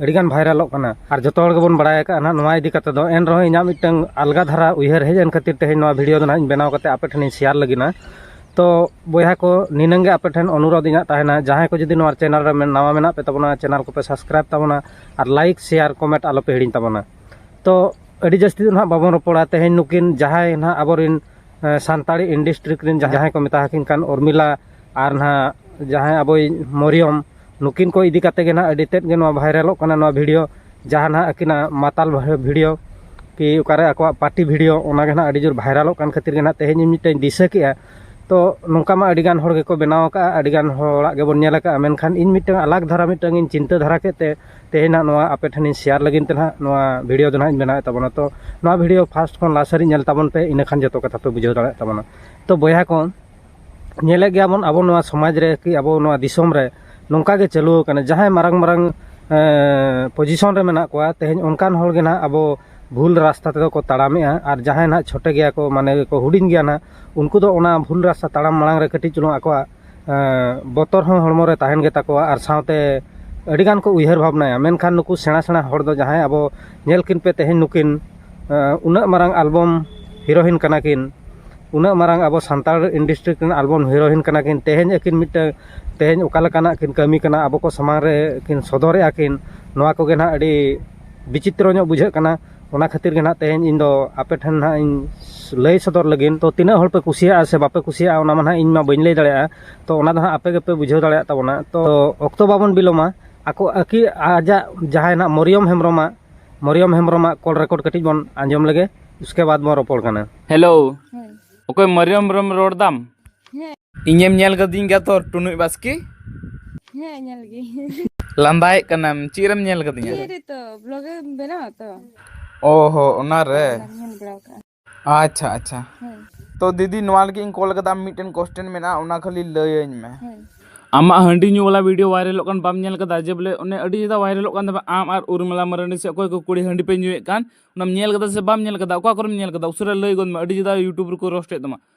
ᱟᱹᱰᱤᱜᱟᱱ ᱵᱷᱟᱭᱨᱟᱞᱚᱜ ᱠᱟᱱᱟ ᱟᱨ ᱡᱚᱛᱚ ᱦᱚᱲ ᱜᱮᱵᱚᱱ ᱵᱟᱲᱟᱭ ᱟᱠᱟᱫᱼᱟ ᱱᱟᱦᱟᱜ ᱱᱚᱣᱟ ᱤᱫᱤ ᱠᱟᱛᱮᱫ ᱫᱚ ᱮᱱ ᱨᱮᱦᱚᱸ ᱤᱧᱟᱹᱜ ᱢᱤᱫᱴᱟᱹᱝ ᱟᱞᱜᱟ ᱫᱷᱟᱨᱟ ᱩᱭᱦᱟᱹᱨ ᱦᱮᱡ ᱮᱱ ᱠᱷᱟᱹᱛᱤᱨ ᱛᱮᱦᱮᱧ ᱱᱚᱣᱟ ᱵᱷᱤᱰᱤᱭᱳ ᱫᱚ ᱱᱟᱦᱟᱜ ᱤᱧ ᱵᱮᱱᱟᱣ ᱠᱟᱛᱮᱫ ᱟᱯᱮ ᱴᱷᱮᱱᱤᱧ ᱥᱮᱭᱟᱨ ᱞᱟᱹᱜᱤᱫᱼᱟ ᱛᱚ ᱵᱚᱭᱦᱟ ᱠᱚ ᱱᱤᱱᱟᱹᱝ ᱜᱮ ᱟᱯᱮ ᱴᱷᱮᱱ ᱚᱱᱩᱨᱳᱫᱷ ᱤᱧᱟᱹᱜ ᱛᱟᱦᱮᱱᱟ ᱡᱟᱦᱟᱸᱭ ᱠᱚ ᱡᱩᱫᱤ ᱱᱚᱣᱟ ᱪᱮᱱᱮᱞ ᱨᱮ ᱱᱟᱣᱟ ᱢᱮᱱᱟᱜ ᱯᱮ ᱛᱟᱵᱚᱱᱟ ᱪᱮᱱᱮᱞ ᱠᱚᱯᱮ ᱥᱟᱵᱥᱠᱨᱟᱭᱤᱵᱽ ᱛᱟᱵᱚᱱᱟ ᱟᱨ ᱞᱟᱭᱤᱠ ᱥᱮᱭᱟᱨ ᱠᱚᱢᱮᱱᱴ ᱟᱞᱚ ᱯᱮ ᱦᱤᱲᱤᱧ ᱛᱟᱵᱚᱱᱟ ᱛᱚ ᱟᱹᱰᱤ ᱡᱟᱹᱥᱛᱤ ᱫᱚ ᱱᱟᱦᱟᱜ ᱵᱟᱵᱚᱱ ᱨᱚᱯᱚᱲᱟ ᱛᱮᱦᱮᱧ ᱱᱩᱠᱤᱱ ᱡᱟᱦᱟᱸᱭ ᱱᱟᱦᱟᱜ ᱟᱵᱚᱨᱮᱱ ᱥᱟᱱᱛᱟᱲᱤ ᱤᱱᱰᱟᱥᱴᱨᱤ ᱨᱮᱱ ᱡᱟᱦᱟᱸᱭ ᱠᱚ ᱢᱮᱛᱟ ᱟᱹᱠᱤᱱ ᱠᱟᱱ ᱩᱨᱢᱤᱞᱟ ᱟᱨ ᱱᱟᱦᱟᱜ ᱡᱟᱦᱟᱸᱭ ᱟᱵᱚᱭᱤᱡ ᱢᱚᱨᱤᱭᱚᱢ ᱱᱩᱠᱤᱱ ᱠᱚ ᱤᱫᱤ ᱠᱟᱛᱮ ᱜᱮ ᱱᱟᱦᱟᱜ ᱟᱹᱰᱤ ᱛᱮᱫ ᱜᱮ ᱱᱚᱣᱟ ᱵᱷᱟᱭᱨᱟᱞᱚᱜ ᱠᱟᱱᱟ ᱱᱚᱣᱟ ᱵᱷᱤᱰᱤᱭᱳ ᱡᱟᱦᱟᱸ ᱱᱟᱦᱟᱜ ᱟᱹᱠᱤᱱᱟᱜ ᱢᱟᱛᱟᱞ ᱵᱷᱤᱰᱤᱭᱳ ᱠᱤ ᱚᱠᱟᱨᱮ ᱟᱠᱚᱣᱟᱜ ᱯᱟᱨᱴᱤ ᱵᱷᱤᱰᱤᱭᱳ ᱚᱱᱟ ᱜᱮ ᱱᱟᱦᱟᱜ ᱟᱹᱰᱤ ᱡᱳᱨ ᱵᱷᱟᱭᱨᱟᱞᱚᱜ ᱠᱟᱱ ᱠᱷᱟᱹᱛᱤᱨ ᱜᱮ ᱱᱟᱦᱟᱜ ᱛᱮᱦᱮᱧ ᱤᱧ ᱢᱤᱫᱴᱮᱱ ᱫᱤᱥᱟᱹ ᱠᱮᱜᱼᱟ ᱛᱚ ᱱᱚᱝᱠᱟ ᱢᱟ ᱟᱹᱰᱤ ᱜᱟᱱ ᱦᱚᱲ ᱜᱮᱠᱚ ᱵᱮᱱᱟᱣ ᱠᱟᱜᱼᱟ ᱟᱹᱰᱤ ᱜᱟᱱ ᱦᱚᱲᱟᱜ ᱜᱮᱵᱚᱱ ᱧᱮᱞ ᱠᱟᱜᱼᱟ ᱢᱮᱱᱠᱷᱟᱱ ᱤᱧ ᱢᱤᱫᱴᱟᱝ ᱟᱞᱟᱠ ᱫᱷᱟᱨᱟ ᱢᱤᱫᱴᱟᱝ ᱤᱧ ᱪᱤᱱᱛᱟᱹ ᱫᱷᱟᱨᱟ ᱠᱮᱫ ᱛᱮ ᱛᱮᱦᱮᱧ ᱱᱟᱦᱟᱜ ᱱᱚᱣᱟ ᱟᱯᱮ ᱴᱷᱮᱱᱤᱧ ᱥᱮᱭᱟᱨ ᱞᱟᱹᱜᱤᱫ ᱛᱮ ᱱᱟᱦᱟᱜ ᱱᱚᱣᱟ ᱵᱷᱤᱰᱤᱭᱳ ᱫᱚ ᱱᱟᱦᱟᱜ ᱤᱧ ᱵᱮᱱᱟᱣᱮᱫ ᱛᱟᱵᱚᱱᱟ ᱛᱚ ᱱᱚᱣᱟ ᱵᱷᱤᱰᱤᱭᱳ ᱯᱷᱟᱥᱴ ᱠᱷᱚᱱ ᱞᱟᱥᱴ ᱦᱟᱹᱨᱤᱡ ᱧᱮᱞ ᱛᱟᱵᱚᱱ ᱯᱮ ᱤᱱᱟᱹ ᱠᱷᱟᱱ ᱡᱚᱛᱚ ᱠᱟᱛᱷᱟ ᱯᱮ ᱵᱩᱡᱷᱟᱹᱣ ᱫᱟᱲᱮᱭᱟᱜ ᱛᱟᱵᱚᱱᱟ ᱛᱚ ᱵᱚᱭᱦᱟ ᱠᱚ ᱧᱮᱞᱮᱫ ᱜᱮᱭᱟ ᱵᱚᱱ ᱟᱵᱚ ᱱᱚᱣᱟ ᱥᱚᱢᱟᱡᱽ ᱨᱮ ᱠᱤ ᱟᱵᱚ ᱱᱚᱣᱟ ᱫᱤᱥᱚᱢ ᱨᱮ ᱱᱚᱝᱠᱟ ᱜᱮ ᱪᱟᱹᱞᱩ ᱟᱠᱟᱱᱟ ᱡᱟᱦᱟᱸᱭ ᱢᱟᱨᱟᱝ ᱢᱟᱨᱟᱝ ᱯᱚᱡᱤᱥᱚᱱ ᱨᱮ ᱢᱮᱱᱟᱜ ᱠᱚᱣᱟ ᱛᱮᱦᱮᱧ ᱚᱱᱠᱟᱱ ᱦᱚᱲ ᱜᱮ ᱱᱟᱦᱟᱜ ᱟᱵᱚ ᱵᱷᱩᱞ ᱨᱟᱥᱛᱟ ᱛᱮᱫᱚ ᱠᱚ ᱛᱟᱲᱟᱢᱮᱜᱼᱟ ᱟᱨ ᱡᱟᱦᱟᱸᱭ ᱱᱟᱦᱟᱜ ᱪᱷᱚᱴᱮ ᱜᱮᱭᱟ ᱠᱚ ᱢᱟᱱᱮ ᱜᱮᱠᱚ ᱦᱩᱰᱤᱧ ᱜᱮᱭᱟ ᱱᱟᱦᱟᱜ ᱩᱱᱠᱩ ᱫᱚ ᱚᱱᱟ ᱵᱷᱩᱞ ᱨᱟᱥᱛᱟ ᱛᱟᱲᱟᱢ ᱢᱟᱲᱟᱝ ᱨᱮ ᱠᱟᱹᱴᱤᱡ ᱪᱩᱞᱩᱝ ᱟᱠᱚᱣᱟᱜ ᱵᱚᱛᱚᱨ ᱦᱚᱸ ᱦᱚᱲᱢᱚ ᱨᱮ ᱛᱟᱦᱮᱱ ᱜᱮᱛᱟ ᱠᱚᱣᱟ ᱟᱨ ᱥᱟᱶᱛᱮ ᱟᱹᱰᱤ ᱜᱟᱱ ᱠᱚ ᱩᱭᱦᱟᱹᱨ ᱵᱷᱟᱵᱽᱱᱟᱭᱟ ᱢᱮᱱᱠᱷᱟᱱ ᱱᱩᱠᱩ ᱥᱮᱬᱟ ᱥᱮᱬᱟ ᱦᱚᱲ ᱫᱚ ᱡᱟᱦᱟᱸᱭ ᱟᱵᱚ ᱧᱮᱞ ᱠᱤᱱ ᱯᱮ ᱛᱮᱦᱮᱧ ᱱᱩᱠᱤᱱ ᱩᱱᱟᱹᱜ ᱢᱟᱨᱟᱝ ᱮᱞᱵᱟᱢ ᱦᱤᱨᱳᱭᱤᱱ ᱠᱟᱱᱟ ᱠᱤᱱ ᱩᱱᱟᱹᱜ ᱢᱟᱨᱟᱝ ᱟᱵᱚ ᱥᱟᱱᱛᱟᱲ ᱤᱱᱰᱟᱥᱴᱨᱤ ᱠᱤᱱ ᱮᱞᱵᱟᱢ ᱦᱤᱨᱳᱭᱤᱱ ᱠᱟᱱᱟ ᱠᱤᱱ ᱛᱮᱦᱮᱧ ᱟᱹᱠᱤᱱ ᱢᱤᱫᱴᱟᱹᱝ ᱛᱮᱦᱮᱧ ᱚᱠᱟ ᱞᱮᱠᱟᱱᱟᱜ ᱠᱤᱱ ᱠᱟᱹᱢᱤ ᱠᱟᱱᱟ ᱟᱵᱚ ᱠᱚ ᱥᱟᱢᱟᱝ ᱨᱮ ᱠᱤᱱ ᱥᱚᱫᱚᱨᱮᱜᱼᱟ ᱠᱤᱱ ᱱᱚᱣᱟ ᱠᱚᱜᱮ ᱱᱟᱦᱟᱜ ᱟᱹᱰᱤ ᱵᱤᱪᱤᱛᱨᱚ ᱧᱚᱜ ᱵᱩᱡᱷᱟᱹᱜ ᱠᱟᱱᱟ ᱚᱱᱟ ᱠᱷᱟᱹᱛᱤᱨ ᱜᱮ ᱱᱟᱦᱟᱜ ᱛᱮᱦᱮᱧ ᱤᱧ ᱫᱚ ᱟᱯᱮ ᱴᱷᱮᱱ ᱱᱟᱦᱟᱜ ᱤᱧ ᱞᱟᱹᱭ ᱥᱚᱫᱚᱨ ᱞᱟᱹᱜᱤᱫ ᱛᱚ ᱛᱤᱱᱟᱹᱜ ᱦᱚᱲ ᱯᱮ ᱠᱩᱥᱤᱭᱟᱜᱼᱟ ᱥᱮ ᱵᱟᱯᱮ ᱠᱩᱥᱤᱭᱟᱜᱼᱟ ᱚᱱᱟ ᱢᱟ ᱱᱟᱦᱟᱜ ᱤᱧ ᱢᱟ ᱵᱟᱹᱧ ᱞᱟᱹᱭ ᱫᱟᱲᱮᱭᱟᱜᱼᱟ ᱛᱚ ᱚᱱᱟ ᱫᱚ ᱱᱟᱦᱟᱜ ᱟᱯᱮ ᱜᱮᱯᱮ ᱵᱩᱡᱷᱟᱹᱣ ᱫᱟᱲᱮᱭᱟᱜ ᱛᱟᱵᱚᱱᱟ ᱛᱚ ᱚᱠᱛᱚ ᱵᱟᱵᱚᱱ ᱵᱤᱞᱚᱢᱟ ᱟᱠᱚ ᱟᱹᱠᱤᱱ ᱟᱡᱟᱜ ᱡᱟᱦᱟᱸᱭ ᱱᱟᱦᱟᱜ ᱢᱚᱨᱤᱭᱚᱢ ᱦᱮᱢᱵᱨᱚᱢᱟᱜ ᱢᱚᱨᱤᱭᱚᱢ ᱦᱮᱢᱵᱨᱚᱢᱟᱜ ᱠᱚᱞ ᱨᱮᱠᱚᱨᱰ ᱠᱟᱹᱴᱤᱡ ᱵᱚᱱ ᱟᱸᱡᱚᱢ ᱞᱮᱜᱮ ᱩᱥᱠᱮ ᱵᱟᱫᱽ ᱵᱚᱱ ᱨᱚᱯᱚᱲ ᱠᱟᱱᱟ ᱦᱮᱞᱳ ᱚᱠᱚᱭ ᱢᱚᱨᱤᱭᱚᱢ ᱦᱮᱢᱵᱨᱚᱢ ᱨᱚᱲ ᱫᱟᱢ ᱤᱧᱮᱢ ᱧᱮᱞ ᱠᱟᱹᱫᱤᱧ ᱜᱮᱭᱟ ᱛᱚ ᱴᱩᱱᱩᱡ ᱵᱟᱥᱠᱮ ᱦᱮᱸ ᱧᱮᱞ ᱜᱮ ᱞᱟᱸᱫᱟᱭᱮᱫ ᱠᱟᱱᱟᱢ ᱪᱮᱫ ᱨᱮᱢ ᱧᱮᱞ ᱠᱟᱫᱤᱧᱟ ᱛᱚ ᱵᱞᱚᱜ ᱮᱢ ᱵᱮᱱᱟᱣᱟ ᱛᱚ ᱚ ᱦᱚᱸ ᱚᱱᱟᱨᱮ ᱧᱮᱞ ᱵᱟᱲᱟ ᱠᱟᱜᱼᱟ ᱟᱪᱪᱷᱟ ᱟᱪᱪᱷᱟ ᱛᱚ ᱫᱤᱫᱤ ᱱᱚᱣᱟ ᱞᱟᱹᱜᱤᱫ ᱤᱧ ᱠᱚᱞ ᱠᱟᱫᱟ ᱢᱤᱫᱴᱮᱱ ᱠᱚᱥᱪᱮᱱ ᱢᱮᱱᱟᱜᱼᱟ ᱚᱱᱟ ᱠᱷᱟᱹᱞᱤ ᱞᱟᱹᱭᱟᱹᱧ ᱢᱮ ᱟᱢᱟᱜ ᱦᱟᱺᱰᱤ ᱧᱩ ᱵᱟᱞᱟ ᱵᱷᱤᱰᱤᱭᱳ ᱵᱷᱟᱭᱨᱟᱞᱚᱜ ᱠᱟᱱ ᱵᱟᱢ ᱧᱮᱞ ᱠᱟᱫᱟ ᱡᱮ ᱵᱚᱞᱮ ᱚᱱᱮ ᱟᱹᱰᱤ ᱡᱟᱫᱟ ᱵᱷᱟᱭᱨᱟᱞᱚᱜ ᱠᱟᱱ ᱛᱟᱢᱟ ᱟᱢ ᱟᱨ ᱩᱨᱢᱤᱞᱟ ᱢᱟᱨᱟᱱᱰᱤ ᱥᱮ ᱚᱠᱚᱭ ᱠᱚ ᱠᱩᱲᱤ ᱦᱟᱺᱰᱤ ᱯᱮ ᱧᱩᱭᱮᱫ ᱠᱟᱱ ᱚᱱᱟᱢ ᱧᱮᱞ ᱠᱟᱫᱟ ᱥᱮ ᱵᱟᱢ ᱧᱮᱞ ᱠᱟᱫᱟ ᱚᱠᱟ ᱠᱚᱨᱮᱢ ᱧᱮᱞ ᱠᱟᱫᱟ ᱩᱥᱟᱹᱨᱟ ᱞᱟᱹᱭ ᱜᱚᱫ ᱢᱮ ᱟᱹᱰᱤ ᱡᱟᱫᱟ ᱤᱭᱩᱴᱩᱵᱽ ᱨᱮᱠᱚ ᱨᱳᱥᱴᱮᱫ ᱛᱟᱢᱟ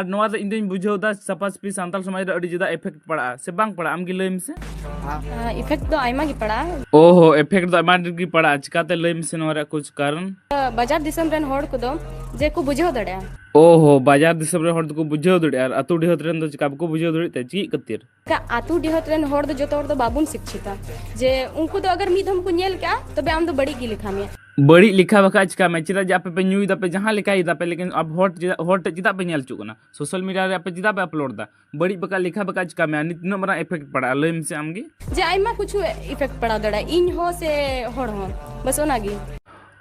ᱟᱨ ᱱᱚᱣᱟ ᱫᱚ ᱤᱧ ᱫᱚᱧ ᱵᱩᱡᱷᱟᱹᱣ ᱮᱫᱟ ᱥᱟᱯᱷᱟ ᱥᱟᱹᱯᱷᱤ ᱥᱟᱱᱛᱟᱲ ᱥᱚᱢᱟᱡᱽ ᱨᱮ ᱟᱹᱰᱤ ᱡᱩᱫᱟ ᱮᱯᱷᱮᱠᱴ ᱯᱟᱲᱟᱜᱼᱟ ᱥᱮ ᱵᱟᱝ ᱯᱟᱲᱟᱜᱼᱟ ᱟᱢ ᱜᱮ ᱞᱟᱹᱭ ᱢᱮᱥᱮ ᱤᱯᱷᱮᱠᱴ ᱫᱚ ᱟᱭᱢᱟ ᱜᱮ ᱯᱟᱲᱟᱜᱼᱟ ᱳᱦᱳ ᱮᱯᱷᱮᱠᱴ ᱫᱚ ᱟᱭᱢᱟ ᱰᱷᱮᱨ ᱜᱮ ᱯᱟᱲᱟᱜᱼᱟ ᱪᱤᱠᱟᱛᱮ ᱞᱟᱹᱭ ᱢᱮᱥᱮ ᱱᱚᱣᱟ ᱨᱮᱭᱟᱜ ᱠᱩᱪ ᱠᱟᱨᱚᱱ ᱵᱟᱡᱟᱨ ᱫᱤᱥᱚᱢ ᱨᱮᱱ ᱦᱚᱲ ᱠᱚᱫᱚ ᱡᱮ ᱠᱚ ᱵᱩᱡᱷᱟᱹᱣ ᱫᱟᱲᱮᱭᱟᱜᱼᱟ ᱳᱦᱳ ᱵᱟᱡᱟᱨ ᱫᱤᱥᱚᱢ ᱨᱮᱱ ᱦᱚᱲ ᱫᱚᱠᱚ ᱵᱩᱡᱷᱟᱹᱣ ᱫᱟᱲᱮᱭᱟᱜᱼᱟ ᱟᱨ ᱟᱹᱛᱩ ᱰᱤᱦᱟᱹᱛ ᱨᱮᱱ ᱫᱚ ᱪᱤᱠᱟ ᱵᱟᱠᱚ ᱵᱩᱡᱷᱟᱹᱣ ᱫᱟᱲᱮᱭᱟᱜ ᱛᱮ ᱪᱮᱫ ᱠᱷᱟᱹᱛᱤᱨ ᱮᱴᱟᱜ ᱟᱹᱛᱩ ᱰᱤᱦᱟᱹᱛ ᱨᱮᱱ ᱦᱚᱲ ᱫᱚ ᱡᱚᱛᱚ ᱦᱚᱲ ᱫᱚ ᱵᱟᱵᱚᱱ ᱥᱤᱠᱪᱷᱤᱛᱟ ᱡᱮ ᱩᱱᱠᱩ ᱫᱚ ᱟᱜᱟᱨ ᱢᱤᱫ ᱫᱷᱚᱢ ᱠᱚ ᱧᱮᱞ ᱠᱮᱜᱼᱟ ᱛᱚᱵᱮ ᱟᱢ ᱫᱚ ᱵᱟᱹᱲᱤᱡ ᱜᱮ ᱞᱮᱠᱷᱟ ᱢᱮᱭᱟ ᱵᱟᱹᱲᱤᱡ ᱞᱮᱠᱷᱟ ᱵᱟᱠᱷᱟᱡ ᱪᱤᱠᱟ ᱢᱮ ᱪᱮᱫᱟᱜ ᱡᱮ ᱟᱯᱮ ᱯᱮ ᱧᱩᱭ ᱫᱟᱯᱮ ᱡᱟᱦᱟᱸ ᱞᱮᱠᱟᱭ ᱫᱟᱯᱮ ᱞᱮᱠᱤᱱ ᱟᱯ ᱦᱚᱲ ᱪᱮᱫᱟᱜ ᱦᱚᱲ ᱴᱷᱮᱡ ᱪᱮᱫᱟᱜ ᱯᱮ ᱧᱮᱞ ᱦᱚᱪᱚᱜ ᱠᱟᱱᱟ ᱥᱳᱥᱟᱞ ᱢᱤᱰᱤᱭᱟ ᱨᱮ ᱟᱯᱮ ᱪᱮᱫᱟᱜ ᱯᱮ ᱟᱯᱞᱳᱰ ᱫᱟ ᱵᱟᱹᱲᱤᱡ ᱵᱟᱠᱷᱟᱡ ᱞᱮᱠᱷᱟ ᱵᱟᱠᱷᱟᱡ ᱪᱤᱠᱟ ᱢᱮ ᱱᱤᱛ ᱛᱤᱱᱟᱹᱜ ᱢᱟᱨᱟᱝ ᱤᱯᱷᱮᱠᱴ ᱯᱟᱲᱟᱜᱼᱟ ᱞᱟᱹᱭ ᱢᱮᱥᱮ ᱟᱢ ᱜᱮ ᱡᱮ ᱟᱭᱢᱟ ᱠᱤᱪᱷᱩ ᱤᱯᱷᱮᱠᱴ ᱯᱟᱲᱟᱣ ᱫᱟᱲᱮᱭᱟᱜᱼᱟ ᱤᱧ ᱦᱚᱸ ᱥᱮ ᱦᱚᱲ ᱦᱚᱸ ᱵᱟᱥ ᱚᱱᱟ ᱜᱮ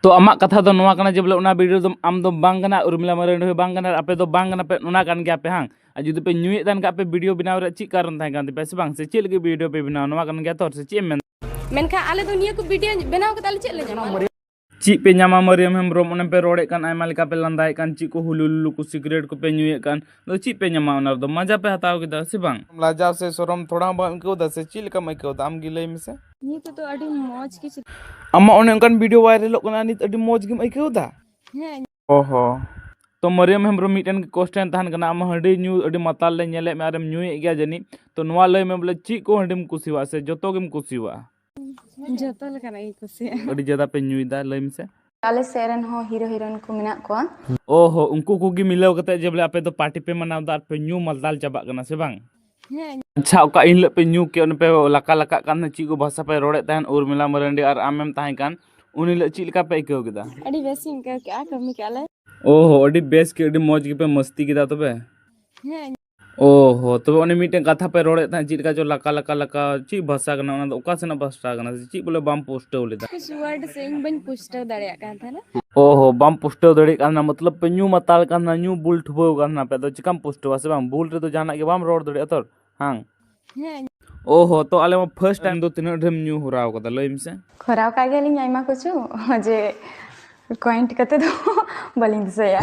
ᱛᱚ ᱟᱢᱟᱜ ᱠᱟᱛᱷᱟ ᱫᱚ ᱱᱚᱣᱟ ᱠᱟᱱᱟ ᱡᱮ ᱵᱚᱞᱮ ᱚᱱᱟ ᱵᱷᱤᱰᱤᱭᱳ ᱫᱚ ᱟᱢ ᱫᱚ ᱵᱟᱝ ᱠᱟᱱᱟ ᱩᱨᱢᱤᱞᱟ ᱢᱟᱨᱟᱱᱰᱤ ᱦᱚᱸ ᱵᱟᱝ ᱠᱟᱱᱟ ᱟᱯᱮ ᱫᱚ ᱵᱟᱝ ᱠᱟᱱᱟ ᱯᱮ ᱚᱱᱟ ᱠᱟᱱ ᱜᱮᱭᱟ ᱯᱮ ᱦᱟᱝ ᱟᱨ ᱡᱩᱫᱤ ᱯᱮ ᱧᱩᱭᱮᱫ ᱛᱟᱦᱮᱱ ᱠᱷᱟᱡ ᱯᱮ ᱵᱷᱤᱰᱤᱭᱳ ᱵᱮᱱᱟᱣ ᱨᱮ ᱪᱮᱫ ᱠᱟᱨᱚᱱ ᱛᱟᱦᱮᱸ ᱠᱟᱱ ᱛᱟᱯᱮᱭᱟ ᱥᱮ ᱵᱟᱝ ᱥᱮ ᱪᱮᱫ ᱞᱟᱹᱜᱤᱫ ᱵᱷᱤᱰᱤᱭᱳ ᱯᱮ ᱵᱮᱱᱟᱣ ᱱᱚᱣᱟ ᱠᱟᱱ ᱜᱮᱭᱟ ᱛᱚ ᱥᱮ ᱪᱮᱫ ᱮᱢ ᱢᱮᱱ ᱢᱮᱱᱠᱷᱟᱱ ᱟᱞᱮ ᱫᱚ ᱱᱤᱭᱟᱹ ᱠᱚ ᱵᱷᱤᱰᱤᱭᱳ ᱵᱮᱱᱟᱣ ᱠᱟᱛᱮ ᱟᱞᱮ ᱪᱮᱫ ᱞᱮ ᱧᱟᱢᱟ ᱪᱮᱫ ᱯᱮ ᱧᱟᱢᱟ ᱢᱟᱹᱨᱤᱭᱟᱢ ᱦᱮᱢᱵᱨᱚᱢ ᱚᱱᱮ ᱯᱮ ᱨᱚᱲᱮᱫ ᱠᱟᱱ ᱟᱭᱢᱟ ᱞᱮᱠᱟ ᱯᱮ ᱞᱟᱸᱫᱟᱭᱮᱫ ᱠᱟᱱ ᱪᱮᱫ ᱠᱚ ᱦᱩᱞᱩ ᱞᱩᱞᱩ ᱠᱚ ᱥᱤᱜᱨᱮᱴ ᱠᱚ ᱯᱮ ᱧᱩᱭᱮᱫ ᱠᱟᱱ ᱟᱫᱚ ᱪᱮᱫ ᱯᱮ ᱧᱟᱢᱟ ᱚᱱᱟ ᱨᱮᱫᱚ ᱢᱟᱡᱟ ᱯᱮ ᱦᱟᱛᱟᱣ ᱠᱮᱫᱟ ᱥᱮ ᱵᱟᱝ ᱞᱟᱡᱟᱣ ᱥᱮ ᱥᱚᱨᱚᱢ ᱛᱷᱚᱲᱟ ᱦᱚᱸ ᱵᱟᱢ ᱟᱹᱭᱠᱟᱹᱣ ᱮᱫᱟ ᱥᱮ ᱪᱮᱫ ᱞᱮᱠᱟᱢ ᱟᱹᱭᱠᱟᱹᱣ ᱮᱫᱟ ᱟᱢ ᱜᱮ ᱞᱟᱹᱭ ᱢᱮᱥᱮ ᱱᱤᱭᱟᱹ ᱠᱚᱫᱚ ᱟᱹᱰᱤ ᱢᱚᱡᱽ ᱜᱮ ᱟᱢᱟᱜ ᱚᱱᱮ ᱚᱱᱠᱟᱱ ᱵᱷᱤᱰᱤᱭᱳ ᱵᱷᱟᱭᱨᱟᱞᱚᱜ ᱠᱟᱱᱟ ᱱᱤᱛ ᱟᱹᱰᱤ ᱢᱚᱡᱽ ᱜᱮᱢ ᱟᱹᱭᱠᱟᱹᱣ ᱮᱫᱟ ᱦᱮᱸ ᱚ ᱦᱚᱸ ᱛᱚ ᱢᱟᱹᱨᱤᱭᱟᱹᱢ ᱦᱮᱢᱵᱨᱚᱢ ᱢᱤᱫᱴᱮᱱ ᱠᱚᱥᱪᱮᱱ ᱛᱟᱦᱮᱱ ᱠᱟᱱᱟ ᱟᱢ ᱦᱟᱺᱰᱤ ᱧᱩ ᱟᱹᱰᱤ ᱢᱟᱛᱟᱞ ᱞᱮ ᱧᱮᱞᱮᱫ ᱢᱮᱭᱟ ᱟᱨᱮᱢ ᱧᱩᱭᱮᱫ ᱜᱮᱭᱟ ᱡᱟᱹᱱᱤᱡ ᱛᱚ ᱱᱚᱣᱟ ᱞᱟᱹᱭ ᱢᱮ ᱵᱚᱞᱮ ᱪᱮᱫ ᱠᱚ ᱦᱟᱺᱰᱤᱢ ᱠᱩᱥᱤᱭᱟᱜᱼᱟ ᱥᱮ ᱡᱚᱛᱚ ᱜᱮᱢ ᱠᱩᱥᱤᱭᱟᱜᱼᱟ ᱡᱚᱛᱚ ᱞᱮᱠᱟᱱᱟᱜ ᱜᱤᱧ ᱠᱩᱥᱤᱭᱟᱜᱼᱟ ᱟᱹᱰᱤ ᱡᱟᱫᱟ ᱯᱮ ᱧᱩᱭᱫᱟ ᱞᱟᱹᱭ ᱢᱮᱥᱮ ᱟᱞᱮ ᱥᱮᱫ ᱨᱮᱱ ᱦᱚᱸ ᱦᱤᱨᱳ ᱦᱤᱨᱳᱭᱤᱱ ᱠᱚ ᱢᱮᱱᱟᱜ ᱠᱚᱣᱟ ᱚ ᱦᱚᱸ ᱩᱱᱠᱩ ᱠᱚᱜᱮ ᱢᱤᱞᱟᱹᱣ ᱠᱟᱛᱮᱫ ᱡᱮ ᱵᱚᱞᱮ ᱟᱯᱮ ᱫᱚ ᱯᱟᱨᱴᱤ ᱯᱮ ᱢᱟᱱᱟᱣᱫᱟ ᱟᱨ ᱯᱮ ᱧᱩ ᱢᱟᱛᱟᱞ ᱪᱟᱵᱟᱜ ᱠᱟᱱᱟ ᱥᱮ ᱵᱟᱝ ᱟᱪᱪᱷᱟ ᱚᱠᱟ ᱤᱱ ᱦᱤᱞᱳᱜ ᱯᱮ ᱧᱩ ᱠᱮᱫ ᱯᱮ ᱞᱟᱠᱟ ᱞᱟᱠᱟᱜ ᱠᱟᱱ ᱛᱟᱦᱮᱸᱫ ᱪᱮᱫ ᱠᱚ ᱵᱷᱟᱥᱟ ᱯᱮ ᱨᱚᱲᱮᱫ ᱛᱟᱦᱮᱸᱫ ᱩᱨᱢᱤᱞᱟ ᱢᱟᱨᱟᱱᱰᱤ ᱟᱨ ᱟᱢᱮᱢ ᱛᱟᱦᱮᱸ ᱠᱟᱱ ᱩᱱ ᱦᱤᱞᱳᱜ ᱪᱮᱫ ᱞᱮᱠᱟ ᱯᱮ ᱟᱹᱭᱠᱟᱹᱣ ᱠᱮᱫᱟ ᱟᱹᱰᱤ ᱵᱮᱥ ᱤᱧ ᱟᱹᱭᱠᱟᱹᱣ ᱠᱮᱫᱼᱟ ᱠᱟᱹᱢᱤ ᱠᱮᱫᱼᱟ ᱞᱮ ᱳ ᱦᱳ ᱟᱹᱰᱤ ᱵᱮᱥ ᱜᱮ ᱟᱹᱰᱤ ᱢᱚᱡᱽ ᱜᱮᱯᱮ ᱢᱟᱹᱥᱛᱤ ᱠᱮᱫᱟ ᱛᱚᱵᱮ ᱦᱮᱸ ᱳ ᱦᱳ ᱛᱚᱵᱮ ᱚᱱᱮ ᱢᱤᱫᱴᱮᱱ ᱠᱟᱛᱷᱟ ᱯᱮ ᱨᱚᱲᱮᱫ ᱛᱟᱦᱮᱸᱫ ᱪᱮᱫ ᱞᱮᱠᱟ ᱪᱚ ᱞᱟᱠᱟ ᱞᱟᱠᱟ ᱞᱟᱠᱟ ᱪᱮᱫ ᱵᱷᱟᱥᱟ ᱠᱟᱱᱟ ᱚᱱᱟ ᱫᱚ ᱚᱠᱟ ᱥᱮᱱᱟᱜ ᱵᱷᱟᱥᱟ ᱠᱟᱱᱟ ᱪᱮᱫ ᱵᱚᱞᱮ ᱵᱟᱢ ᱯᱩᱥᱴᱟᱹᱣ ᱞᱮᱫᱟ ᱠᱤᱪᱷᱩ ᱣᱟᱨᱰ ᱥᱮ ᱤᱧ ᱵᱟᱹᱧ ᱯᱩᱥᱴᱟᱹᱣ ᱫᱟᱲᱮᱭᱟᱜ ᱠᱟᱱ ᱛᱟᱦᱮᱱᱟ ᱚ ᱦᱚ ᱵᱟᱢ ᱯᱩᱥᱴᱟᱹᱣ ᱫᱟᱲᱮᱭᱟᱜ ᱠᱟᱱᱟ ᱢᱚᱛᱞᱚᱵ ᱯᱮ ᱧᱩ ᱢᱟᱛᱟᱞ ᱠᱟᱱᱟ ᱧᱩ ᱵᱩᱞ ᱴᱷᱩᱵᱟᱹᱣ ᱠᱟᱱᱟ ᱯᱮ ᱟᱫᱚ ᱪᱤᱠᱟᱢ ᱯᱩᱥᱴᱟᱹᱣᱟ ᱥᱮ ᱵᱟᱝ ᱵᱩᱞ ᱨᱮᱫᱚ ᱡᱟᱦᱟᱱᱟᱜ ᱜᱮ ᱵᱟᱢ ᱨᱚᱲ ᱫᱟᱲᱮᱭᱟᱜᱼᱟ ᱛᱚ ᱦᱟᱝ ᱦᱮᱸ ᱚ ᱦᱚ ᱛᱚ ᱟᱞᱮ ᱢᱟ ᱯᱷᱟᱨᱥᱴ ᱴᱟᱭᱤᱢ ᱫᱚ ᱛᱤᱱᱟᱹᱜ ᱰᱷᱮᱨᱮᱢ ᱧᱩ ᱦᱚᱨᱟᱣ ᱠᱟᱫᱟ ᱞᱟᱹᱭ ᱢᱮᱥᱮ ᱠᱷᱚᱨᱟᱣ ᱠᱟᱜ ᱜᱮᱭᱟᱞᱤᱧ ᱟᱭᱢᱟ ᱠᱤᱪᱷᱩ ᱡᱮ ᱠᱚᱭᱮᱱᱴ ᱠᱟᱛᱮ ᱫᱚ ᱵᱟᱹᱞᱤᱧ ᱫᱤᱥᱟᱹᱭᱟ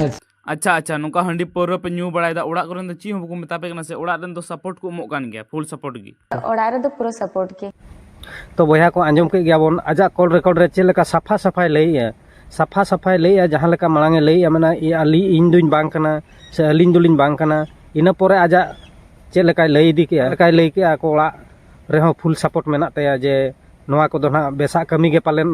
ᱟᱪᱪᱷᱟ ᱟᱪᱪᱷᱟ ᱱᱚᱝᱠᱟ ᱦᱟᱺᱰᱤ ᱯᱟᱹᱣᱨᱟᱹ ᱯᱮ ᱧᱩ ᱵᱟᱲᱟᱭᱮᱫᱟ ᱚᱲᱟᱜ ᱠᱚᱨᱮᱱ ᱫᱚ ᱪᱮᱫ ᱦᱚᱸ ᱵᱟᱠᱚ ᱢᱮᱛᱟ ᱯᱮ ᱠᱟᱱᱟ ᱥᱮ ᱚᱲᱟᱜ ᱨᱮᱱ ᱫᱚ ᱥᱟᱯᱳᱨᱴ ᱠᱚ ᱮᱢᱚᱜ ᱠᱟᱱ ᱜᱮᱭᱟ ᱯᱷᱩᱞ ᱥᱟᱯᱳᱨᱴ ᱜᱮ ᱚᱲᱟᱜ ᱨᱮᱫᱚ ᱯᱩᱨᱟᱹ ᱥᱟᱯᱳᱨᱴ ᱜᱮ ᱛᱚ ᱵᱚᱭᱦᱟ ᱠᱚ ᱟᱸᱡᱚᱢ ᱠᱮᱫ ᱜᱮᱭᱟ ᱵᱚᱱ ᱟᱡᱟᱜ ᱠᱚᱞ ᱨᱮᱠᱚᱨᱰ ᱨᱮ ᱪᱮᱫ ᱞᱮᱠᱟ ᱥᱟᱯᱷᱟ ᱥᱟᱯᱷᱟᱭ ᱞᱟᱹᱭᱮᱜᱼᱟ ᱥᱟᱯᱷᱟ ᱥᱟᱯᱷᱟᱭ ᱞᱟᱹᱭᱮᱜᱼᱟ ᱡᱟᱦᱟᱸ ᱞᱮᱠᱟ ᱢᱟᱲᱟᱝ ᱮ ᱞᱟᱹᱭᱮᱜᱼᱟ ᱢᱟᱱᱮ ᱟᱞᱤ ᱤᱧ ᱫᱩᱧ ᱵᱟᱝ ᱠᱟᱱᱟ ᱥᱮ ᱟᱹᱞᱤᱧ ᱫᱚᱞᱤᱧ ᱵᱟᱝ ᱠᱟᱱᱟ ᱤᱱᱟᱹ ᱯᱚᱨᱮ ᱟᱡᱟᱜ ᱪᱮᱫ ᱞᱮᱠᱟᱭ ᱞᱟᱹᱭ ᱤᱫᱤ ᱠᱮᱜᱼᱟ ᱞᱮᱠᱟᱭ ᱞᱟᱹᱭ ᱠᱮᱜᱼᱟ ᱟᱠᱚ ᱚᱲᱟᱜ ᱨᱮᱦᱚᱸ ᱯᱷᱩᱞ ᱥᱟᱯᱳᱨᱴ ᱢᱮᱱᱟᱜ ᱛᱟᱭᱟ ᱡᱮ ᱱᱚᱣᱟ ᱠᱚᱫᱚ ᱱᱟᱜ ᱵᱮᱥᱟᱜ ᱠᱟᱹᱢᱤ ᱜᱮ ᱯᱟᱞᱮᱱ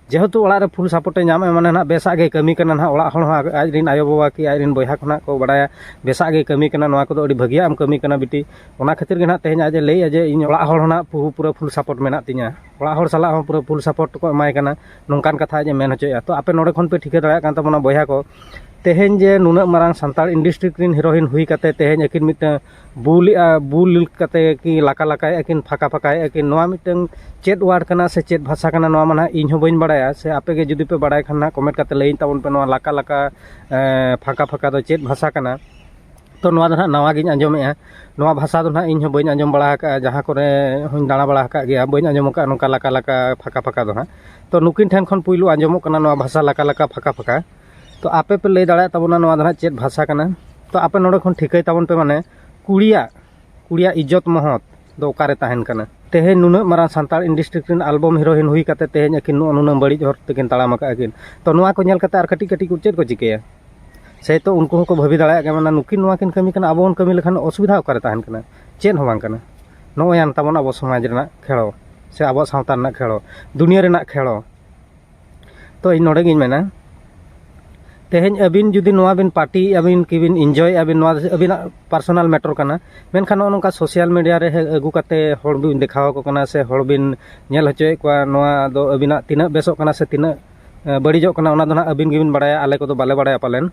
ᱡᱮᱦᱮᱛᱩ ᱚᱲᱟᱜ ᱨᱮ ᱯᱷᱩᱞ ᱥᱟᱯᱳᱨᱴᱮ ᱧᱟᱢᱮᱫᱼᱟ ᱢᱟᱱᱮ ᱱᱟᱦᱟᱜ ᱵᱮᱥᱟᱜ ᱜᱮᱭ ᱠᱟᱹᱢᱤ ᱠᱟᱱᱟ ᱱᱟᱦᱟᱜ ᱚᱲᱟᱜ ᱦᱚᱲ ᱦᱚᱸ ᱟᱡ ᱨᱮᱱ ᱟᱭᱳᱼᱵᱟᱵᱟ ᱠᱤ ᱟᱡ ᱨᱮᱱ ᱵᱚᱭᱦᱟ ᱠᱚ ᱱᱟᱦᱟᱜ ᱠᱚ ᱵᱟᱲᱟᱭᱟ ᱵᱮᱥᱟᱜ ᱜᱮᱭ ᱠᱟᱹᱢᱤ ᱠᱟᱱᱟ ᱱᱚᱣᱟ ᱠᱚᱫᱚ ᱟᱹᱰᱤ ᱵᱷᱟᱹᱜᱤᱭᱟᱜ ᱮᱢ ᱠᱟᱹᱢᱤ ᱠᱟᱱᱟ ᱵᱤᱴᱤ ᱚᱱᱟ ᱠᱷᱟᱹᱛᱤᱨ ᱜᱮ ᱱᱟᱦᱟᱜ ᱛᱮᱦᱮᱧ ᱟᱡ ᱮ ᱞᱟᱹᱭᱮᱫᱼᱟ ᱡᱮ ᱤᱧ ᱚᱲᱟᱜ ᱦᱚᱲ ᱦᱚᱸ ᱱᱟᱦᱟᱜ ᱯᱩᱨᱟᱹ ᱯᱩᱨᱟᱹ ᱯᱷᱩᱞ ᱥᱟᱯᱳᱨᱴ ᱢᱮᱱᱟᱜ ᱛᱤᱧᱟᱹ ᱚᱲᱟᱜ ᱦᱚᱲ ᱥᱟᱞᱟᱜ ᱦᱚᱸ ᱯᱩᱨᱟᱹ ᱯᱷᱩᱞ ᱥᱟᱯᱳᱨᱴ ᱠᱚ ᱮᱢᱟᱭ ᱠᱟᱱᱟ ᱱᱚᱝᱠᱟᱱ ᱠᱟᱛᱷᱟ ᱟᱡ ᱮ ᱢᱮᱱ ᱦᱚᱪᱚᱭᱮᱫᱼᱟ ᱛᱚ ᱟᱯᱮ ᱱᱚᱰᱮ ᱠᱷᱚᱱ ᱯᱮ ᱴᱷᱤᱠᱟᱹ ᱫᱟᱲᱮᱭᱟᱜ ᱠᱟᱱ ᱛᱟᱵᱚᱱᱟ ᱵᱚᱭᱦᱟ ᱠᱚ ᱛᱮᱦᱮᱧ ᱡᱮ ᱱᱩᱱᱟᱹᱜ ᱢᱟᱨᱟᱝ ᱥᱟᱱᱛᱟᱲ ᱤᱱᱰᱟᱥᱴᱨᱤ ᱨᱮᱱ ᱦᱤᱨᱳᱭᱤᱱ ᱦᱩᱭ ᱠᱟᱛᱮᱫ ᱛᱮᱦᱮᱧ ᱟᱹᱠᱤᱱ ᱢᱤᱫᱴᱟᱹᱝ ᱵᱩᱞ ᱮᱫᱼᱟ ᱵᱩᱞ ᱠᱟᱛᱮᱫ ᱠᱤ ᱞᱟᱠᱟ ᱞᱟᱠᱟᱭᱮᱫᱼᱟ ᱠᱤᱱ ᱯᱷᱟᱸᱠᱟ ᱯᱷᱟᱸᱠᱟᱭᱮᱫᱼᱟ ᱠᱤᱱ ᱱᱚᱣᱟ ᱢᱤᱫᱴᱟᱹᱝ ᱪᱮᱫ ᱚᱣᱟᱨᱰ ᱠᱟᱱᱟ ᱥᱮ ᱪᱮᱫ ᱵᱷᱟᱥᱟ ᱠᱟᱱᱟ ᱱᱚᱣᱟ ᱢᱟ ᱱᱟᱦᱟᱜ ᱤᱧ ᱦᱚᱸ ᱵᱟᱹᱧ ᱵᱟᱲᱟᱭᱟ ᱥᱮ ᱟᱯᱮ ᱜᱮ ᱡᱩᱫᱤ ᱯᱮ ᱵᱟᱲᱟᱭ ᱠᱷᱟᱱ ᱱᱟᱦᱟᱜ ᱠᱚᱢᱮᱱᱴ ᱠᱟᱛᱮᱫ ᱞᱟᱹᱭᱟᱹᱧ ᱛᱟᱵᱚᱱ ᱯᱮ ᱱᱚᱣᱟ ᱞᱟᱠᱟ ᱞᱟᱠᱟ ᱯᱷᱟᱸᱠᱟ ᱯᱷᱟᱸᱠᱟ ᱫᱚ ᱪᱮᱫ ᱵᱷᱟᱥᱟ ᱠᱟᱱᱟ ᱛᱚ ᱱᱚᱣᱟ ᱫᱚ ᱱᱟᱦᱟᱜ ᱱᱟᱣᱟ ᱜᱤᱧ ᱟᱸᱡᱚᱢᱮᱫᱼᱟ ᱱᱚᱣᱟ ᱵᱷᱟᱥᱟ ᱫᱚ ᱱᱟᱦᱟᱜ ᱤᱧ ᱦᱚᱸ ᱵᱟᱹᱧ ᱟᱸᱡᱚᱢ ᱵᱟᱲᱟ ᱟᱠᱟᱫᱼᱟ ᱡᱟᱦᱟᱸ ᱠᱚᱨᱮ ᱦᱚᱧ ᱫᱟᱬᱟ ᱵᱟᱲᱟ ᱟᱠᱟᱫ ᱜᱮᱭᱟ ᱵᱟᱹᱧ ᱟᱸᱡᱚᱢ ᱟᱠᱟᱫᱼᱟ ᱱᱚᱝᱠᱟ ᱞᱟᱠᱟ ᱞᱟᱠᱟ ᱯᱷᱟᱸᱠᱟ ᱯᱷᱟᱸᱠᱟ ᱫᱚ ᱱᱟᱦᱟᱜ ᱛᱚ ᱱᱩᱠᱤᱱ ᱴᱷᱮᱱ ᱠᱷᱚᱱ ᱯᱩᱭᱞᱩ ᱟᱸᱡᱚᱢᱚᱜ ᱠᱟᱱᱟ ᱱᱚᱣᱟ ᱵᱷᱟᱥᱟ ᱞᱟᱠᱟ ᱞᱟᱠᱟ ᱯᱷᱟᱸᱠᱟ ᱯᱷᱟᱸᱠᱟ ᱛᱚ ᱟᱯᱮ ᱯᱮ ᱞᱟᱹᱭ ᱫᱟᱲᱮᱭᱟᱜ ᱛᱟᱵᱚᱱᱟ ᱱᱚᱣᱟ ᱫᱚ ᱦᱟᱸᱜ ᱪᱮᱫ ᱵᱷᱟᱥᱟ ᱠᱟᱱᱟ ᱛᱚ ᱟᱯᱮ ᱱᱚᱰᱮ ᱠᱷᱚᱱ ᱴᱷᱤᱠᱟᱹᱭ ᱛᱟᱵᱚᱱ ᱯᱮ ᱢᱟᱱᱮ ᱠᱩᱲᱤᱭᱟᱜ ᱠᱩᱲᱤᱭᱟᱜ ᱤᱡᱽᱡᱚᱛ ᱢᱚᱦᱚᱛ ᱫᱚ ᱚᱠᱟᱨᱮ ᱛᱟᱦᱮᱱ ᱠᱟᱱᱟ ᱛᱮᱦᱮᱧ ᱱᱩᱱᱟᱹᱜ ᱢᱟᱨᱟᱝ ᱥᱟᱱᱛᱟᱲ ᱤᱱᱰᱟᱥᱴᱨᱤ ᱨᱮᱱ ᱟᱞᱵᱚᱢ ᱦᱤᱨᱳᱭᱤᱱ ᱦᱩᱭ ᱠᱟᱛᱮ ᱛᱮᱦᱮᱧ ᱟᱹᱠᱤᱱ ᱱᱚᱜᱼᱚ ᱱᱩᱱᱟᱹᱜ ᱵᱟᱹᱲᱤᱡ ᱦᱚᱨ ᱛᱮᱠᱤᱱ ᱛᱟᱲᱟᱢ ᱟᱠᱟᱫ ᱟᱹᱠᱤᱱ ᱛᱚ ᱱᱚᱣᱟ ᱠᱚ ᱧᱮᱞ ᱠᱟᱛᱮ ᱟᱨ ᱠᱟᱹᱴᱤᱡ ᱠᱟᱹᱴᱤᱡ ᱠᱚ ᱪᱮᱫ ᱠᱚ ᱪᱤᱠᱟᱹᱭᱟ ᱥᱮᱭᱛᱚ ᱩᱱᱠᱩ ᱦᱚᱸᱠᱚ ᱵᱷᱟᱹᱵᱤ ᱫᱟᱲᱮᱭᱟᱜ ᱜᱮᱭᱟ ᱢᱟᱱᱮ ᱱᱩᱠᱤᱱ ᱱᱚᱣᱟ ᱠᱤᱱ ᱠᱟᱹᱢᱤ ᱠᱟᱱᱟ ᱟᱵᱚ ᱵᱚᱱ ᱠᱟᱹᱢᱤ ᱞᱮᱠᱷᱟᱱ ᱚᱥᱩᱵᱤᱫᱷᱟ ᱚᱠᱟᱨᱮ ᱛᱟᱦᱮᱱ ᱠᱟᱱᱟ ᱪᱮᱫ ᱦᱚᱸ ᱵᱟᱝ ᱠᱟᱱᱟ ᱱᱚᱜᱼᱚᱭ ᱟᱱ ᱛᱟᱵᱚᱱ ᱟᱵᱚ ᱥᱚᱢᱟᱡᱽ ᱨᱮᱱᱟᱜ ᱠᱷᱮᱲᱚ ᱥᱮ ᱟᱵᱚᱣᱟᱜ ᱥᱟᱶᱛᱟ ᱨᱮᱱᱟᱜ ᱠᱷᱮᱲᱚ ᱫᱩᱱᱤᱭᱟᱹ ᱨᱮᱱᱟᱜ ᱠᱷᱮᱲᱚ ᱛᱚ ᱤᱧ ᱱᱚᱰᱮ ᱜᱤᱧ ᱢᱮᱱᱟ ᱛᱮᱦᱮᱧ ᱟᱹᱵᱤᱱ ᱡᱩᱫᱤ ᱱᱚᱣᱟ ᱵᱤᱱ ᱯᱟᱨᱴᱤ ᱟᱹᱵᱤᱱ ᱠᱤᱵᱤᱱ ᱤᱱᱡᱚᱭᱮᱫᱼᱟ ᱵᱤᱱ ᱱᱚᱣᱟ ᱟᱹᱵᱤᱱᱟᱜ ᱯᱟᱨᱥᱚᱱᱟᱞ ᱢᱮᱴᱚᱨ ᱠᱟᱱᱟ ᱢᱮᱱᱠᱷᱟᱱ ᱱᱚᱜᱼᱚ ᱱᱚᱝᱠᱟ ᱥᱳᱥᱟᱞ ᱢᱤᱰᱤᱭᱟ ᱨᱮ ᱟᱹᱜᱩ ᱠᱟᱛᱮᱫ ᱦᱚᱲ ᱵᱤᱱ ᱫᱮᱠᱷᱟᱣ ᱟᱠᱚ ᱠᱟᱱᱟ ᱥᱮ ᱦᱚᱲ ᱵᱤᱱ ᱧᱮᱞ ᱦᱚᱪᱚᱭᱮᱫ ᱠᱚᱣᱟ ᱱᱚᱣᱟ ᱫᱚ ᱟᱹᱵᱤᱱᱟᱜ ᱛᱤᱱᱟᱹᱜ ᱵᱮᱥᱚᱜ ᱠᱟᱱᱟ ᱥᱮ ᱛᱤᱱᱟᱹᱜ ᱵᱟᱹᱲᱤᱡᱚᱜ ᱠᱟᱱᱟ ᱚᱱᱟ ᱫᱚ ᱱᱟᱦᱟᱜ ᱟᱹᱵᱤᱱ ᱜᱮᱵᱤᱱ ᱵᱟᱲᱟᱭᱟ ᱟᱞᱮ ᱠᱚᱫᱚ ᱵᱟᱞᱮ ᱵᱟᱲᱟᱭᱟ ᱯᱟᱞᱮᱱ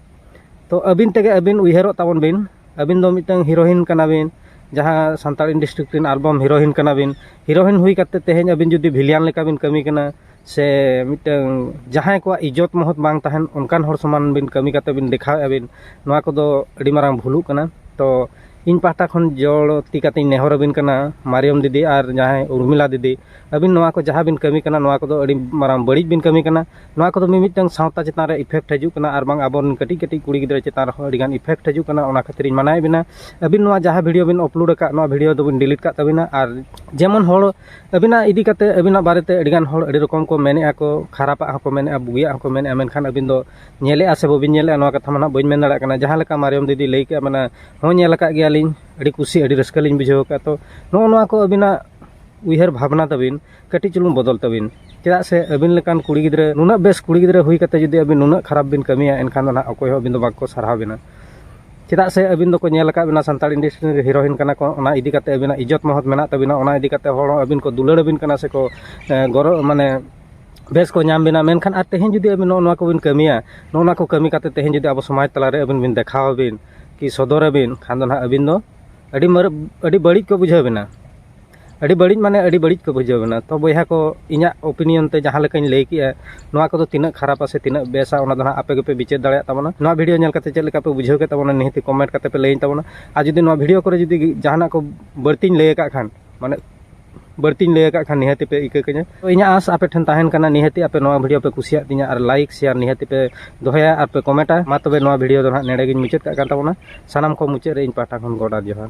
ᱛᱚ ᱟᱹᱵᱤᱱ ᱛᱮᱜᱮ ᱟᱹᱵᱤᱱ ᱩᱭᱦᱟᱹᱨᱚᱜ ᱛᱟᱵᱚᱱ ᱵᱤᱱ ᱟᱹᱵᱤᱱ ᱫᱚ ᱢᱤᱫᱴᱟᱝ ᱦᱤᱨᱳᱭᱤᱱ ᱠᱟᱱᱟ ᱵᱤᱱ ᱡᱟᱦᱟᱸ ᱥᱟᱱᱛᱟᱲ ᱤᱱᱰᱟᱥᱴᱨᱤ ᱨᱮᱱ ᱟᱞᱵᱟᱢ ᱦᱤᱨᱳᱭᱤᱱ ᱠᱟᱱᱟ ᱵᱤᱱ ᱦᱤᱨᱳᱭᱤᱱ ᱦᱩᱭ ᱠᱟᱛᱮᱫ ᱛᱮᱦᱮᱧ ᱟᱹᱵᱤᱱ ᱡᱩᱫᱤ ᱵᱷᱤᱞᱤᱭᱟᱱ ᱞᱮᱠᱟ ᱵᱤᱱ ᱠᱟᱹᱢᱤ ᱠᱟᱱᱟ ᱥᱮ ᱢᱤᱫᱴᱟᱝ ᱡᱟᱦᱟᱸᱭ ᱠᱚᱣᱟᱜ ᱤᱡᱽᱡᱚᱛ ᱢᱚᱦᱚᱛ ᱵᱟᱝ ᱛᱟᱦᱮᱱ ᱚᱱᱠᱟᱱ ᱦᱚᱲ ᱥᱚᱢᱟᱱ ᱵᱤᱱ ᱠᱟᱹᱢᱤ ᱠᱟᱛᱮᱫ ᱵᱤᱱ ᱫᱮᱠᱷᱟᱣᱮᱫ ᱟᱹᱵᱤᱱ ᱱᱚᱣᱟ ᱠᱚᱫᱚ ᱟᱹᱰᱤ ᱢᱟᱨᱟᱝ ᱵᱷᱩᱞᱩᱜ ᱠᱟᱱᱟ ᱛᱚ ᱤᱧ ᱯᱟᱦᱴᱟ ᱠᱷᱚᱱ ᱡᱚᱲᱚ ᱛᱤ ᱠᱟᱛᱮᱫ ᱤᱧ ᱱᱮᱦᱚᱨ ᱟᱹᱵᱤᱱ ᱠᱟᱱᱟ ᱢᱟᱨᱤᱭᱚᱢ ᱫᱤᱫᱤ ᱟᱨ ᱡᱟᱦᱟᱸᱭ ᱩᱨᱢᱤᱞᱟ ᱫᱤᱫᱤ ᱟᱹᱵᱤᱱ ᱱᱚᱣᱟ ᱠᱚ ᱡᱟᱦᱟᱸ ᱵᱤᱱ ᱠᱟᱹᱢᱤ ᱠᱟᱱᱟ ᱱᱚᱣᱟ ᱠᱚᱫᱚ ᱟᱹᱰᱤ ᱢᱟᱨᱟᱝ ᱵᱟᱹᱲᱤᱡ ᱵᱤᱱ ᱠᱟᱹᱢᱤ ᱠᱟᱱᱟ ᱱᱚᱣᱟ ᱠᱚᱫᱚ ᱢᱤ ᱢᱤᱫᱴᱟᱝ ᱥᱟᱶᱛᱟ ᱪᱮᱛᱟᱱ ᱨᱮ ᱤᱯᱷᱮᱠᱴ ᱦᱤᱡᱩᱜ ᱠᱟᱱᱟ ᱟᱨ ᱵᱟᱝ ᱟᱵᱚ ᱨᱮᱱ ᱠᱟᱹᱴᱤᱡ ᱠᱟᱹᱴᱤᱡ ᱠᱩᱲᱤ ᱜᱤᱫᱽᱨᱟᱹ ᱪᱮᱛᱟᱱ ᱨᱮᱦᱚᱸ ᱟᱹᱰᱤ ᱜᱟᱱ ᱤᱯᱷᱮᱠᱴ ᱦᱤᱡᱩᱜ ᱠᱟᱱᱟ ᱚᱱᱟ ᱠᱷᱟᱹᱛᱤᱨ ᱤᱧ ᱢᱟᱱᱟᱭᱮᱫ ᱵᱮᱱᱟ ᱟᱹᱵᱤᱱ ᱱᱚᱣᱟ ᱡᱟᱦᱟᱸ ᱵᱷᱤᱰᱭᱳ ᱵᱤᱱ ᱟᱯᱞᱳᱰ ᱟᱠᱟᱫ ᱱᱚᱣᱟ ᱵᱷᱤᱰᱭᱳ ᱫᱚᱵᱤᱱ ᱰᱤᱞᱤᱴ ᱠᱟᱜ ᱛᱟᱹᱵᱤᱱᱟ ᱟᱨ ᱡᱮᱢᱚᱱ ᱦᱚᱲ ᱟᱹᱵᱤᱱᱟᱜ ᱤᱫᱤ ᱠᱟᱛᱮ ᱟᱹᱵᱤᱱᱟᱜ ᱵᱟᱨᱮᱛᱮ ᱟᱹᱰᱤᱜᱟᱱ ᱦᱚᱲ ᱟᱹᱰᱤ ᱨᱚᱠᱚᱢ ᱠᱚ ᱢᱮᱱᱮᱫᱼᱟ ᱠᱚ ᱠᱷᱟᱨᱟᱯᱟᱜ ᱦᱚᱸᱠᱚ ᱢᱮᱱᱮᱫᱼᱟ ᱵᱩᱜᱤᱭᱟᱜ ᱦᱚᱸᱠᱚ ᱢᱮᱱᱮᱫᱼᱟ ᱢᱮᱱᱠᱷᱟᱱ ᱟᱹᱵᱤᱱ ᱫᱚ ᱧᱮᱞᱮᱫᱼᱟ ᱥᱮ ᱵᱟᱹᱵᱤᱱ ᱧᱮᱞᱮᱫᱼᱟ ᱱᱚᱣᱟ ᱠᱟᱛᱷᱟ ᱢᱟ ᱱᱟᱦᱟᱜ ᱵᱟᱹᱧ ᱢᱮᱱ ᱫᱟᱲᱮᱭᱟᱜ ᱠᱟᱱᱟ ᱡᱟᱦᱟᱸ ᱞᱮᱠᱟ ᱢᱟᱨᱤᱭᱚᱢ ᱫᱤᱫᱤᱭ ᱞᱟᱹᱭ ᱠᱮᱫᱼᱟ ᱢᱟᱱᱮ ᱦᱮᱸ ᱧᱮᱞ ᱟᱠᱟᱫ ᱜᱮᱭᱟᱞᱤᱧ ᱟᱹᱰᱤ ᱠᱩᱥᱤ ᱟᱹᱰᱤ ᱨᱟᱹᱥᱠᱟᱹ ᱞᱤᱧ ᱵᱩᱡᱷᱟᱹᱣ ᱟᱠᱟᱫᱼᱟ ᱛᱚ ᱱᱚᱜᱼᱚ ᱱᱚᱣᱟ ᱠᱚ ᱟᱹᱵᱤᱱᱟᱜ ᱩᱭᱦᱟᱹᱨ ᱵᱷᱟᱵᱽᱱᱟ ᱛᱟᱹᱵᱤᱱ ᱠᱟᱹᱴᱤᱡ ᱪᱩᱞᱩᱝ ᱵᱚᱫᱚᱞ ᱛᱟᱹᱵᱤᱱ ᱪᱮᱫᱟᱜ ᱥᱮ ᱟᱹᱵᱤᱱ ᱞᱮᱠᱟᱱ ᱠᱩᱲᱤ ᱜᱤᱫᱽᱨᱟᱹ ᱱᱩᱱᱟᱹᱜ ᱵᱮᱥ ᱠᱩᱲᱤ ᱜᱤᱫᱽᱨᱟᱹ ᱦᱩᱭ ᱠᱟᱛᱮ ᱡᱩᱫᱤ ᱟᱹᱵᱤᱱ ᱱᱩᱱᱟᱹᱜ ᱠᱷᱟᱨᱟᱯ ᱵᱤᱱ ᱠᱟᱹᱢᱤᱭᱟ ᱮᱱᱠᱷᱟᱱ ᱫᱚ ᱱᱟᱦᱟᱜ ᱚᱠᱚᱭ ᱦᱚᱸ ᱟᱹᱵᱤᱱ ᱫᱚ ᱵᱟᱠᱚ ᱥᱟᱨᱦᱟᱣ ᱵᱤᱱᱟ ᱪᱮᱫᱟᱜ ᱥᱮ ᱟᱹᱵᱤᱱ ᱫᱚᱠᱚ ᱧᱮᱞ ᱟᱠᱟᱫ ᱵᱤᱱᱟ ᱥᱟᱱᱛᱟᱲ ᱤᱱᱰᱟᱥᱴᱨᱤ ᱨᱮ ᱦᱤᱨᱳᱭᱤᱱ ᱠᱟᱱᱟ ᱠᱚ ᱚᱱᱟ ᱤᱫᱤ ᱠᱟᱛᱮ ᱟᱹᱵᱤᱱᱟᱜ ᱤᱡᱽᱡᱚᱛ ᱢᱚᱦᱚᱛ ᱢᱮᱱᱟᱜ ᱛᱟᱹᱵᱤᱱᱟ ᱚᱱᱟ ᱤᱫᱤ ᱠᱟᱛᱮ ᱦᱚᱲ ᱦᱚᱸ ᱟᱹᱵᱤᱱ ᱠᱚ ᱫᱩᱞᱟᱹᱲ ᱟᱹᱵᱤᱱ ᱠᱟᱱᱟ ᱥᱮ ᱠᱚ ᱜᱚᱨᱚᱵᱽ ᱢᱟᱱᱮ ᱵᱮᱥ ᱠᱚ ᱧᱟᱢ ᱵᱤᱱᱟ ᱢᱮᱱᱠᱷᱟᱱ ᱟᱨ ᱛᱮᱦᱮᱧ ᱡᱩᱫᱤ ᱟᱹᱵᱤᱱ ᱱᱚᱜᱼᱚ ᱱᱚᱣᱟ ᱠᱚᱵᱤᱱ ᱠᱟᱹᱢᱤᱭᱟ ᱱᱚᱜᱼᱚ ᱱᱚᱣᱟ ᱠᱚ ᱠᱟᱹᱢᱤ ᱠᱟᱛᱮ ᱛᱮᱦᱮᱧ ᱡᱩᱫᱤ ᱟᱵᱚ ᱥᱚᱢᱟᱡᱽ ᱛᱟᱞᱟ ᱨᱮ ᱟᱹᱵᱤᱱ ᱵᱤᱱ ᱫᱮᱠᱷᱟᱣ ᱟᱹᱵᱤᱱ ᱠᱤ ᱥᱚᱫᱚᱨ ᱟᱹᱵᱤᱱ ᱠᱷᱟᱱ ᱫᱚ ᱱᱟᱦᱟᱜ ᱟᱹᱵᱤᱱ ᱫᱚ ᱟᱹᱰᱤ ᱢᱟᱨᱟᱝ ᱟᱹᱰᱤ ᱵᱟᱹᱲᱤᱡ ᱠᱚ ᱵᱩᱡᱷᱟᱹᱣ ᱵᱤᱱᱟ ᱟᱹᱰᱤ ᱵᱟᱹᱲᱤᱡ ᱢᱟᱱᱮ ᱟᱹᱰᱤ ᱵᱟᱹᱲᱤᱡ ᱠᱚ ᱵᱩᱡᱷᱟᱹᱣ ᱵᱮᱱᱟ ᱛᱚ ᱵᱚᱭᱦᱟ ᱠᱚ ᱤᱧᱟᱹᱜ ᱳᱯᱤᱱᱤᱭᱚᱱ ᱛᱮ ᱡᱟᱦᱟᱸ ᱞᱮᱠᱟᱧ ᱞᱟᱹᱭ ᱠᱮᱜᱼᱟ ᱱᱚᱣᱟ ᱠᱚᱫᱚ ᱛᱤᱱᱟᱹᱜ ᱠᱷᱟᱨᱟᱯᱟ ᱥᱮ ᱛᱤᱱᱟᱹᱜ ᱵᱮᱥᱟ ᱚᱱᱟ ᱫᱚ ᱦᱟᱸᱜ ᱟᱯᱮ ᱜᱮᱯᱮ ᱵᱤᱪᱟᱹᱨ ᱫᱟᱲᱮᱭᱟᱜ ᱛᱟᱵᱚᱱᱟ ᱱᱚᱣᱟ ᱵᱷᱤᱰᱭᱳ ᱧᱮᱞ ᱠᱟᱛᱮ ᱪᱮᱫ ᱞᱮᱠᱟ ᱯᱮ ᱵᱩᱡᱷᱟᱹᱣ ᱠᱮᱫ ᱛᱟᱵᱚᱱᱟ ᱱᱤᱦᱟᱹᱛ ᱠᱚᱢᱮᱱᱴ ᱠᱟᱛᱮ ᱯᱮ ᱞᱟᱹᱭᱟᱹᱧ ᱛᱟᱵᱚᱱᱟ ᱟᱨ ᱡᱩᱫᱤ ᱱᱚᱣᱟ ᱵᱷᱤᱰᱭᱳ ᱠᱚᱨᱮ ᱡᱩᱫᱤ ᱡᱟᱦᱟᱱᱟᱜ ᱠᱚ ᱵᱟᱹᱲᱛᱤᱧ ᱞᱟᱹᱭ ᱟᱠᱟᱫ ᱠᱷᱟᱱ ᱢᱟᱱᱮ ᱵᱟᱹᱲᱛᱤᱧ ᱞᱟᱹᱭ ᱟᱠᱟᱫ ᱠᱷᱟᱱ ᱱᱤᱦᱟᱹᱛ ᱯᱮ ᱤᱠᱟᱹ ᱠᱟᱹᱧᱟ ᱛᱚ ᱤᱧᱟᱹᱜ ᱟᱸᱥ ᱟᱯᱮ ᱴᱷᱮᱱ ᱛᱟᱦᱮᱱ ᱠᱟᱱᱟ ᱱᱤᱦᱟᱹᱛ ᱟᱯᱮ ᱱᱚᱣᱟ ᱵᱷᱤᱰᱭᱳ ᱯᱮ ᱠᱩᱥᱤᱭᱟᱜ ᱛᱤᱧᱟ ᱟᱨ ᱞᱟᱭᱤᱠ ᱥᱮᱭᱟᱨ ᱱᱤᱦᱟᱹᱛ ᱯᱮ ᱫᱚᱦᱚᱭᱟ ᱟᱨ ᱯᱮ ᱠᱚᱢᱮᱱᱴᱟ ᱢᱟ ᱛᱚᱵᱮ ᱱᱚᱣᱟ ᱵᱷᱤᱰᱭᱳ ᱫᱚ ᱦᱟᱸᱜ ᱱᱮᱰᱮ ᱜᱤᱧ ᱢᱩᱪᱟᱹᱫ ᱠᱟᱜ ᱠᱟᱱ ᱛᱟᱵᱚᱱᱟ ᱥᱟᱱᱟᱢ ᱠᱚ ᱢᱩᱪᱟᱹᱫ ᱨᱮ ᱤᱧ ᱯᱟᱦᱴᱟ ᱠᱷᱚᱱ ᱜᱚᱰ ᱟᱨ ᱡᱚᱦᱟᱨ